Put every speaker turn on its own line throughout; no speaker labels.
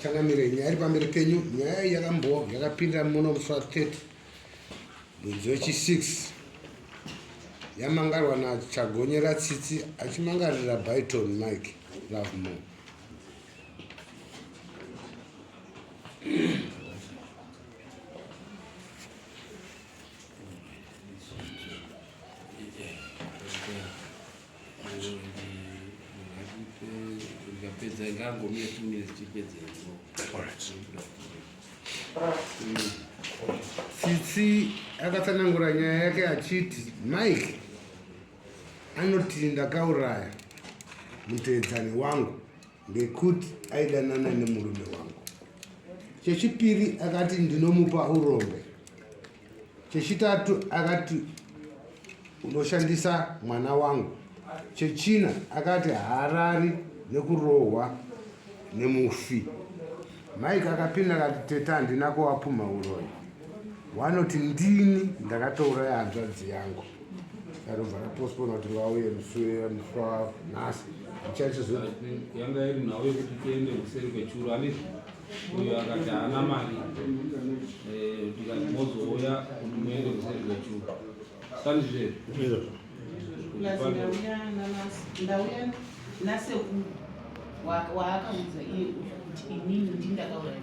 changamire nyaya iri pamberi penyu nyaya yakambowa yakapinda muno musi wa 30 mwedzi wechi 6 yamangarwa nachagonyera tsitsi achimangarira byton mike lovemore ngangomire two minutes tipedze tsitsi akatsanangura nyaya yake achiti mike Anoti ndakauraya mutevedzani wangu ngekuti aidanana nemurume wangu. Chechipiri akati ndinomupa urombe. Chechitatu akati unoshandisa mwana wangu. Chechina akati haarari nekurohwa nemufi. Mike akapinda akati tete handina kuwapumha uroyi. Wanoti ndini ndakatouraya hanzvadzi yangu. Yarobva rapostpona kuti vauye musure muswa nhasi ichacho zvo yanga iri
nhau yekuti tiende kuseri kwechuru handiti uyo akati haana mari Eh, tikati mozouya kuti muende kuseri kwechuru sani zvezvo Izvo. plus ndauya namas- ndauya nasekuru wa-
waakaudza iye kuti inini ndindakauraya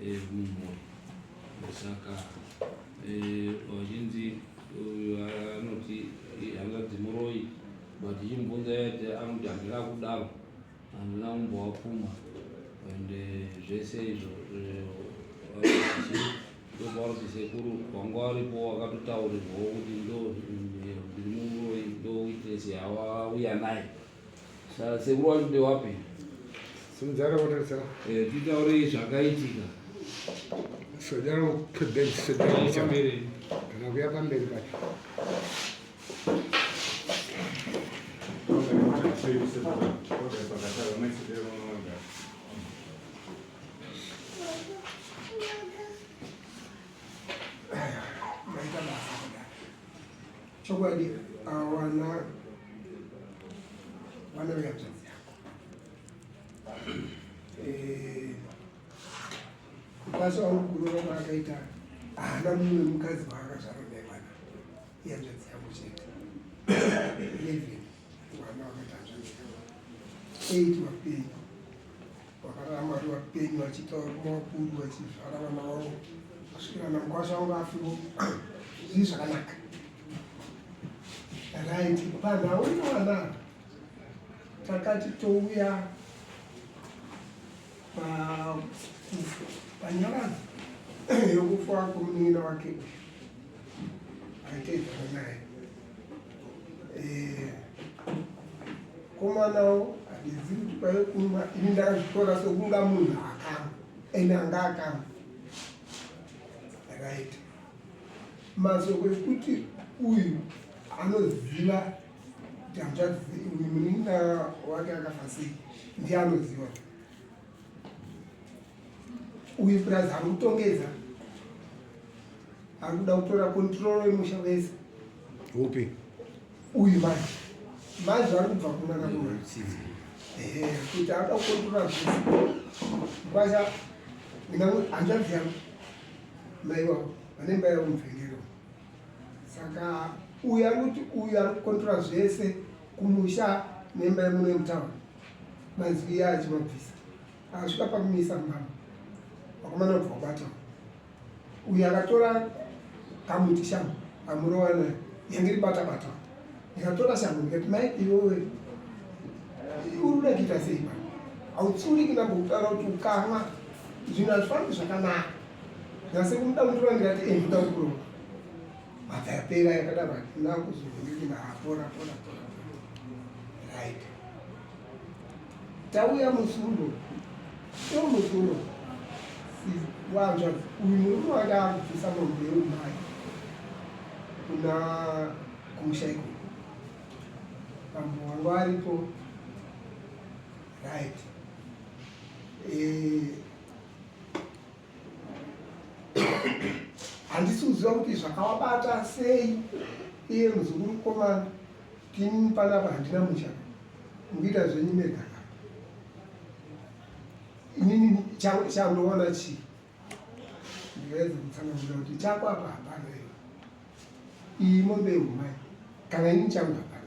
ehumhuri saka eh, vachinzi uyu anoti hanzvadzi muroyi but chimbunza yati anoti handina kudaro handina kumbowapfuma and eh, zvese izvo ndopakuti sekuru wanga waripo wakatotaurirwawo kuti ndiri muroyi ndoitese yawauya naye Saka sekuru wacho ndewapi? Simdzara
votarisa. Eh, titaurei
zvakaitika.
Sojara kudai sojara kuchambere.
Kana kuya pamberi
pacho.
Chokwadi awana vana vehanzvadzi yako eh, kupasa wangu kurova kwaakaita haana mumwe mukadzi waakazvarwa naye vana ihanzvadzi yako chete eleven vana vakati hanzvadzi yako eight vapenyu vakaramba ri vapenyu vachitaura kumavakuru vachizvara vana vavo kusvikira namukwasha vanga afiro zvii zvakanaka right vanhu auna vana takati touya panyaradzo yokufa kwomunin'ina wake uyu aitedzana naye eh, komanawo handizivi kuti kwaive kunwa ini ndakazvitora sokunga munhu akama ende anga akama right masoko ekuti uyu anoziva kuti hanzvadzi munin'ina wake akafa sei ndiye anoziva uyu purazi ari kutongedza ari kuda kutora kontrolo yemusha wese upi
uyu
manje manje vari kubva kunana kuna kuti aada kukontrola zvese kwasa hanzvadzi yangu mai wavo vane mba yavo mubvengero saka uyu ari kuti uyu ari kukontrola zvese kumusha nemba yemuno yemutaura manzwi iya achimabvisa akasvika pakumisa mbama vakomana kubva kubata uyu akatora kamuti shangu amurova nayo yange ribata bata ndikatora shangu ndikati mai iwewe uruda kuita sei pa hautsuri kina kutaura kuti ukamwa zvinhu hazvifambi zvakanaka ndikase kumuda mutora ndikati e ndoda kurova mabva yapera yakadaro hatina kuzovhundikina hapora pora pora right tauya musundo so musundo wanzva uyu murume wanga akubvisa mombe yeumai kuna kumusha iko mambo wangu aripo right eh, handisi kuziva kuti zvakawabata sei iye muzukuru komana Team panapa handina musha mukuita zvenyu mega inini chandoona chii ndikaedza kutsanangura kuti chako apa hapana iyo iyi mombe yehumai kana ini changu hapana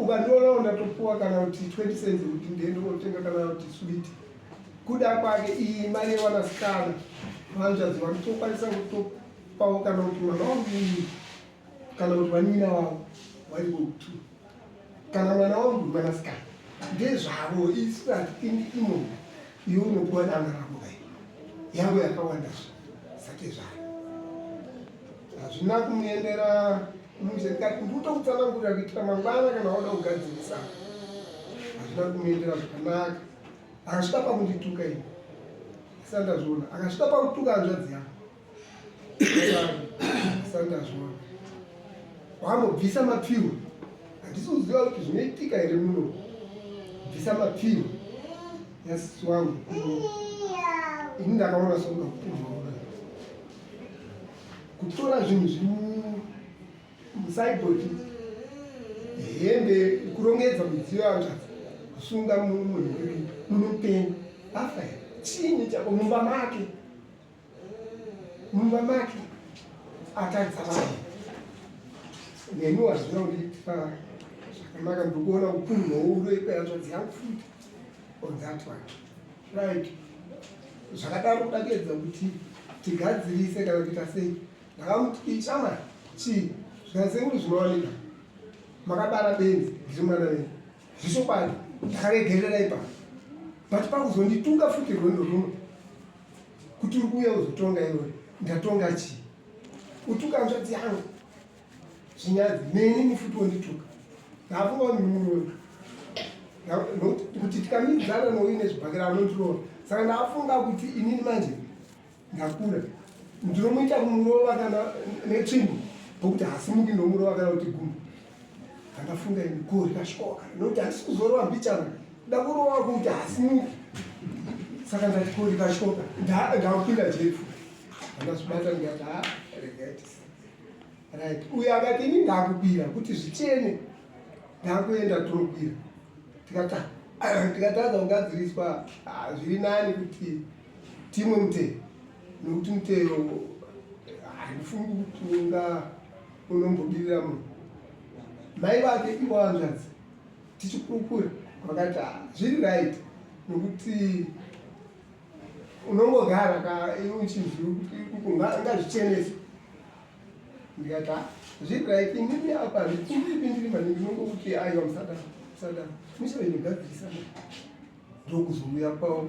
ukandionawo ndatopuwa kana kuti 20 cents kuti ndiende kotenga kana kuti swit kuda kwake iyi mari yewanasikana vanzvadzi vakutokwanisa kutopawo kana kuti mwana wangu iyi kana kuti vanin'ina vavo vari vokutu kana mwana wangu mwanasikana ndezvavo isu hatipindi imomo iwe unopiwa dana rako kai yangu yakawandazvo sake zvayo hazvina kumuendera mushe ndikati ndikutokutsanangurira kuitira mangwana kana wada kugadzirisa hazvina kumuendera zvakanaka akasvika pakundituka ini asandazviona akasvika pakutuka hanzvadzi yangu sandazvona wambobvisa mapfiwo handisi kuziva kuti zvinoitika here muno bvisa mapfiwo yasisi wangu ini ndakaona sokuda kukuona kutora zvinhu zviri musaiboti hembe kurongedza midziyo yangazi kusunga munhu munopenyu afa here chini chako mumba make mumba make atadza vanhu nemi wazvina undipa zvakanaka ndikuona ukuru houdo ikweyanzvadzi yangu futi on that one right zvakadaro kuda kuedza kuti tigadzirise kana kuita sei ndakamuti ichama chii zvikasenguri zvinowanika makabara benzi ndiri mwana wenyu zvechokwadi ndakaregerera ipa but pakuzonditunga futi rwendo runo kuti uri kuuya uzotonga iwe ndatonga chii utuka nzvadzi yangu zvinyadzi nenini futi wondituka ndaafungaoni mumuroyo kuti tikamidzana nouine zvibhakira anondiroora saka ndaafunga kuti inini manje Ndakura ndinomuita kumurova kana netsvimbo pokuti hasi mundi nomurova kana kuti gumbo ndakafunga ini ko rikashoka nokuti hasi kuzorova mbichana ndakurova kuti hasi mundi saka ndati ko rikashoka ndakupinda jefu andazvibata ndikati ha regaiti right uyo akati ini ndakukwira kuti zvichene ndakuenda tinokwira tikata tikatadza kungadziriswa ah, zviri nani kuti ah, Timwe mutero nokuti mutero handifungi kuti unga unombobirira munhu mai vake ivo hanzvadzi tichikurukura vakati ah, zviri right nokuti unongogara ka iwe uchinzwingazvichenese ndikati ah, zviri right inini apa zvipindipindiri maningi nongokuti aiwa musadaro musadaro muchainogadzirisa ndokuzouya kwavo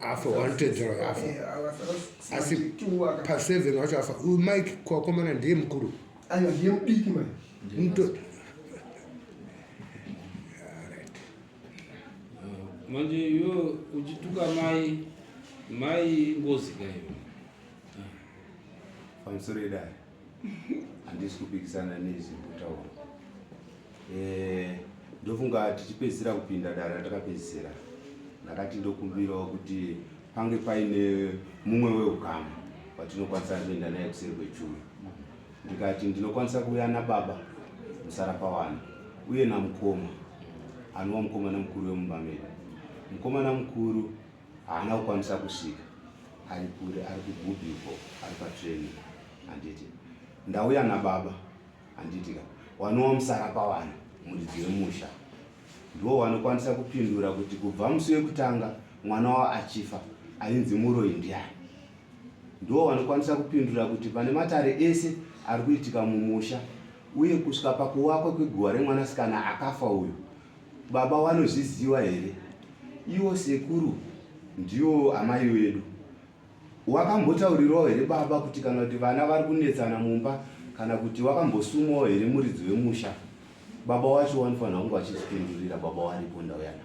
afa wanotedzera
uyo afa eh, asi paseven wacho afa uyu mike kwakomana ndiye mukuru aiwa ndiye mudiki
mai
manje iwe uchituka mai mai ngozi kaiwe
ah. pamusoro edai handisi kupikisana nezvi kutaura eh, ndofunga tichipedzisira kupinda dare ratakapedzisira ndakati ndokumbirawo kuti pange paine mumwe weukama watinokwanisa kuenda naye kuseri kwechuru ndikati ndinokwanisa kuuya nababa musara pawana uye namukoma anova mukomana mukuru wemumba medu mukomana mukuru haana kukwanisa kusvika ari kure ari kugubi uko ari patreni handiti ndauya nababa handitika wanowa musara pavana muridzi wemusha ndiwo wanokwanisa kupindura kuti kubva musi wekutanga mwana wavo achifa ainzi muroi ndiani ndiwo wanokwanisa kupindura kuti pane matare ese ari kuitika mumusha uye kusvika pakuwakwa kweguva remwanasikana akafa uyu Baba wanozviziva here? Iwo sekuru ndiwo amai wedu. Wakambotaurirawo here baba kuti kana kuti vana vari kunetsana mumba kana kuti wakambosumawo here muridzi wemusha? Baba wacho wanofanira kunge vachizvipindurira baba waripo ndauya navo.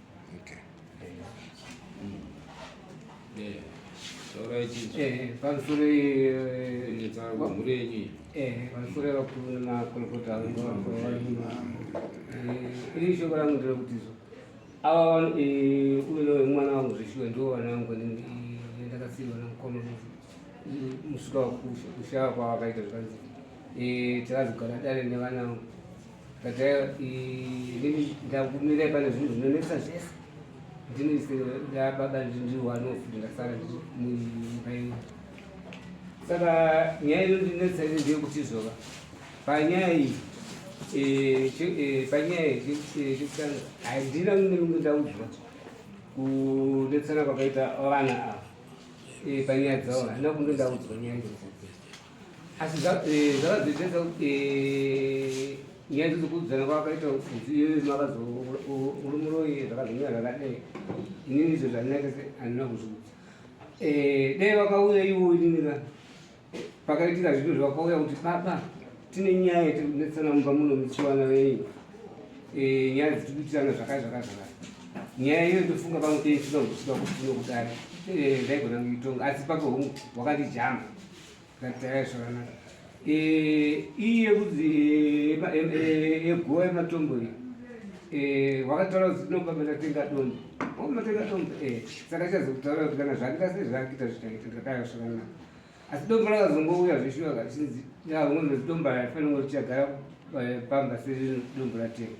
pamusoro
mhuri yenyu pamusoro
yavakunakorokota iri shoko rangu ndiro kuti izvo ava uyo mwana wangu zveshuwa ndiwo vana vangu ndakasiirwa namukoma musvika kushava kwavakaita zvakanzi takazogara dare nevana vangu ndakumire pano zvinhu zvinonetsa zvese ndinobaba ndinoanof ndasara ndimubairi saka nyaya inondinetsa ine ndeyekuti zvova panyaya iyi eh, eh, panyaya eh, chekutanga handina nemimwe ndaudzwa kunetsana kwakaita vana ava panyaya dzavo handina kunge ndaudzwa nyaya asi zvakadzedzedza kuti eh, nyaya idzodzo kuudzana kwakaita mudziyo makazourumuroyi zvakazomira zvakadai inini izvo zvandinake handina kuzviudza eh, dai vakauya ivo ininiva pakaitika zvinhu zvavakauya kuti baba tine nyaya yatiri kunetsana mumba muno muchiwana venyu eh, nyaya dzitiri kuitirana zvakai zvakai zvakai nyaya iyo ndofunga pamwe teisina kuzvisiwa kuti tinokudai ndaigona kuitonga asi pako hungu wakandijamba Gadzai zvakanaka. Eh, iyi yekudzi eh, eh, yegowa yematombo iyi wakataura kuti tinopa matatenga dombo oh, matenga dombo saka chazi kutaura kuti kana zvakuita sei zvakuita zvichaita ndikadaro zvakanaka asi dombo rakazongouya zvishuwa kachinzi yaunonzi dombo raifanira kuti chagara pamba sezvino dombo ratenga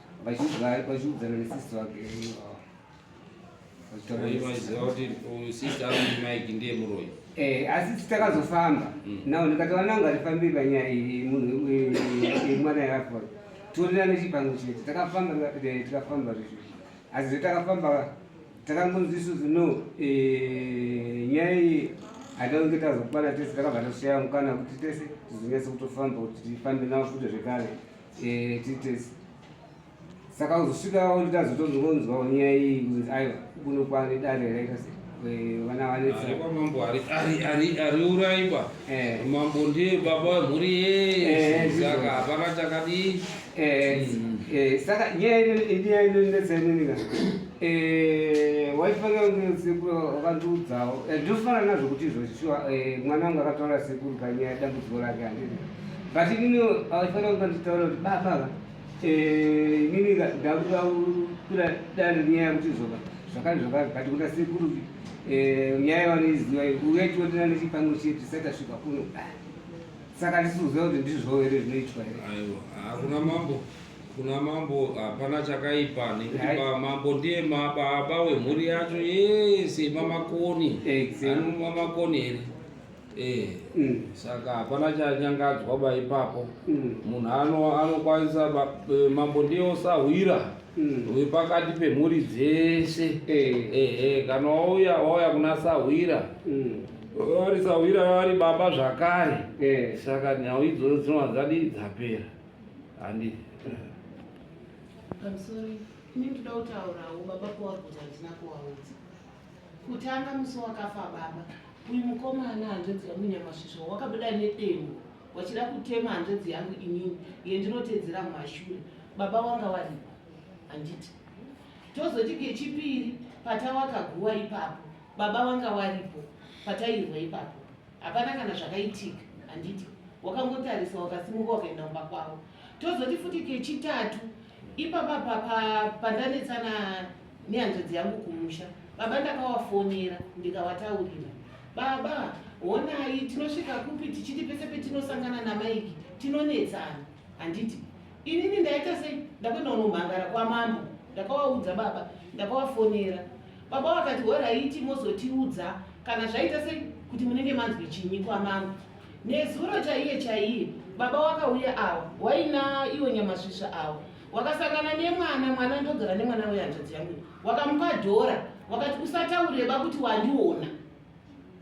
vachiudzana
nesisi vake vaiziva
kuti sisi ari mike ndiye muroyi Eh, asi
titakazofamba mm. nao ndikati vana vangu hatifambi panyaya iyi munhu mwana yaapo torira nechipango chete takafamba eh, tikafamba zvezvo asi zvetakafamba takangonzi isusu no eh, nyaya iyi hataunge tazokwana tese takabva tashaya mukana kuti tese tizonyase kutofamba kuti tifambe navo futi zvekare Eh, titesi saka uzosvika waonita zotonzwonzwa nyaya iyi kunzi aiwa kuno kwane dare raita se eh, vana vanetsa Aripa mambo ari- ari-
ari- ariuraiwa Eh. mambo ndiye baba wemhuri Eh, yese ndizvo. saka hapana chakadii Eh,
eh, saka nyaya ino- inyaya inonetsa inonika waifanira kunge sekuru wakandiudzawo Eh, ndinofanira nazvo kuti izvo shuwa eh, mwana wangu akataura sekuru panyaya dambudziko rake handii But inini haufanira kuva ndichitaura kuti baba ava eh, inini ndakuda kukura dare nyaya kuti zvoka zvakari zvakari but kuda sekuru eh, nyaya yavanoiziva uye tiotera nechipango chedu tisati asvika kuno saka ndisikuziva kuti ndizvo here zvinoitwa here aiwa hakuna mambo
kuna mambo hapana chakaipa nekuti mambo ndiye baba wemhuri yacho yese mamakoni anoma makoni here Eh, mm. saka hapana chanyangadzwa ba ipapo mm. munhu ano anokwanisa e, mambo ndiye osahwira mm. wepakati pemhuri dzese eh. ehe kana wauya wauya kuna sahwira vari sahwira vari baba zvakare eh. saka nhau idzodzo dzinova dzadii dzapera handi I'm sorry.
Ini ndinotaurawo baba kuwaudza ndina kuwaudza. Kutanga musi wakafa baba, uyu mukomana hanzvadzi yangu Nyamasvisva wakabuda nedemo wachida kutema hanzvadzi yangu inini yendinoteedzera mumashure. Baba wanga waripa handiti? Tozoti kechipiri patawakaguwa ipapo, baba wanga waripo patairwa ipapo. Hapana kana zvakaitika handiti? Wakangotarisa wakasimuka wakaenda kumba kwavo. Tozoti futi kechitatu ipapa pandanetsana nehanzvadzi yangu kumusha baba ndakawafonera ndikawataurira baba honai tinosvika kupi tichiti pese petinosangana namaiki tinonetsana handiti inini ndaita sei ndakuenda unomhangara kwamambo ndakawaudza baba ndakawafonera baba vakati horaiti mozotiudza kana zvaita sei kuti munenge manzwi chinyi kwamambo nezuro chaiye chaiye baba wakauya awa waina iwo nyamasvisva awa wakasangana nemwana mwana ndogara nemwana wehanzvadzi yangu wakamupa dhora wakati usataureba kuti wandiona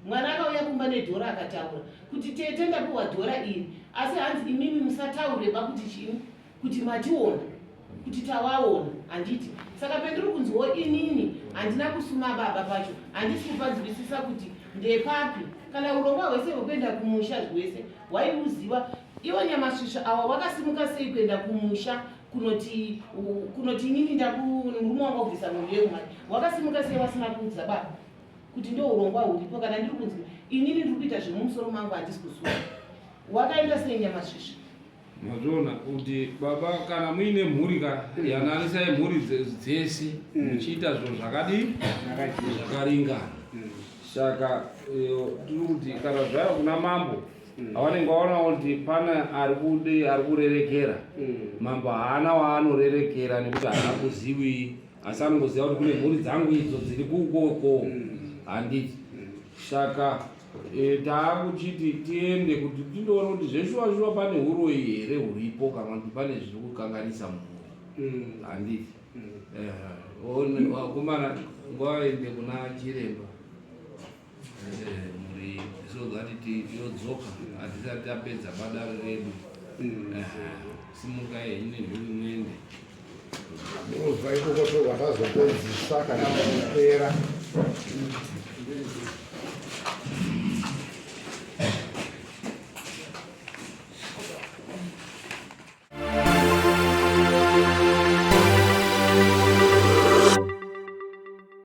mwana akauya kumba nedhora akataura kuti tete ndapiwa dhora iri asi hanzi imimi musataureba kuti chii kuti mationa kuti tawaona handiti saka pendiri kunziwo inini handina kusuma baba pacho handisi kupanzwisisa kuti ndepapi kana urongwa hwese hwekuenda kumusha zvese waiuziva Iwe Nyamasvisva awa wakasimuka sei kuenda kumusha kunoti kunoti inini ndakurume wanga kubvisa mhondo yeumai wakasimuka sei wasina kuudza baba kuti ndo urongwa huripo kana ndiri kunzi inini ndiri kuita zvemumusoro mangu handisi kusuwa wakaenda sei Nyamasvisva mazviona
kuti baba kana muine mhuri ka yananisai mhuri dzese mm. muchiita zvinhu zvakadii zvakaringana mm. saka eh, tiri kuti kana zvaya kuna mambo mm. avanenge vaona kuti pane ari kude ari kurerekera mm. mambo haana waanorerekera nekuti haana kuzivi asi anongoziva kuti kune mhuri dzangu idzo dziri kukoko mm. handiti saka e, taakuchiti tiende kuti tindoona kuti zveshuwashuwa pane uroyi here huripo kana kuti pane zviri kukanganisa mhuri handiti vakomana ngavaende kuna chiremba yodzoka hatisati tapedza badaro redu mm. simuka henyu nezvirimwende
ndozva ikoko tozvatazopedzisa kana kupera